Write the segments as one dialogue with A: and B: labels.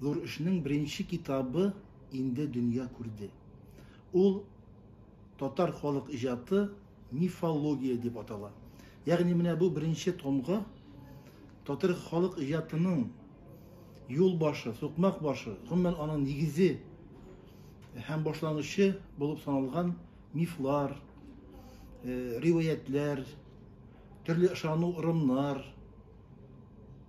A: Зур эшнең беренче китабы инде дөнья күрде. Ул Татар халык иҗаты, мифология дип атала. Ягъни менә бу беренче томга татар халык иҗатының юл башы, сукмак башы, гомумән аның нигезе һәм башлангычы булып саналган мифлар, э, риваятләр, төрле ышану ырымнар,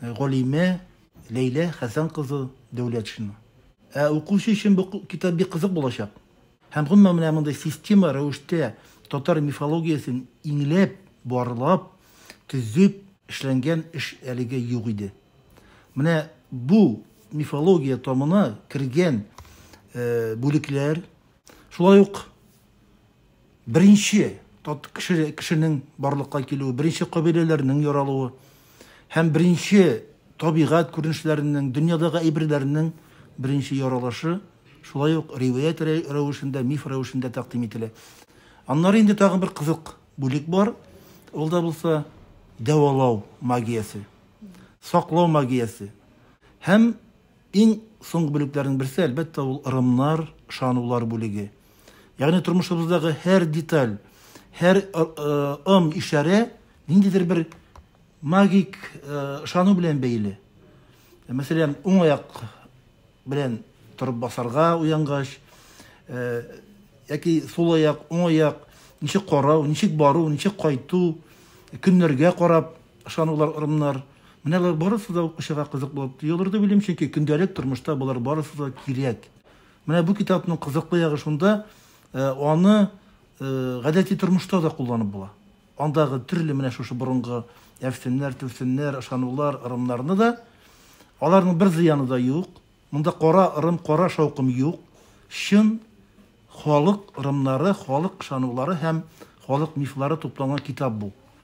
A: галиме Ләйлә Хәсән кызы Дәүләтшина. Ә укучы өчен бу китап бик кызык булачак. Һәм гомумән менә мондый система рәвештә татар мифологиясен иңләп, барлап, төзеп эшләнгән эш әлегә юк иде. Менә бу мифология тамына кергән бүлекләр, шулай ук Беренче тот кеше, кешенең барлыкка килүе, беренче кабиләләрнең яралуы һәм беренче табигать күренешләренең, дөньядагы әйберләрнең беренче яралышы шулай ук риваять рәвешендә, миф рәвешендә тәкъдим ителә. Аннары инде тагын бер кызык бүлек бар, ул да булса дәвалау магиясе, саклау магиясе һәм Иң соңгы бүлекләрнең берсе, әлбәттә, ул ырымнар, ышанулар бүлеге. Ягъни тормышыбыздагы һәр деталь, һәр ым, ишарә ниндидер бер магик ышану белән бәйле. Мәсәлән, уң аяк белән торып басарга уянгач, яки сул аяк, уң аяк, ничек карау, ничек бару, ничек кайту, көннәргә карап, Ышанулар, ырымнар, менә алар барысы да ук очырга кызык булып тоелырды, уйлыйм, чөнки көндәлек тормышта болар барысы да кирәк. Менә бу китапның кызыклы ягы шунда, аны гадәти тормышта да кулланып була. Андагы төрле менә шушы борынгы әфсемнәр, түфсемнәр, ышанулар, ырымнарны да, аларның бер зыяны да юк. Монда кара ырым, кара шаукым юк. Чын халык ырымнары, халык ышанулары һәм халык мифлары тупланган китап бу.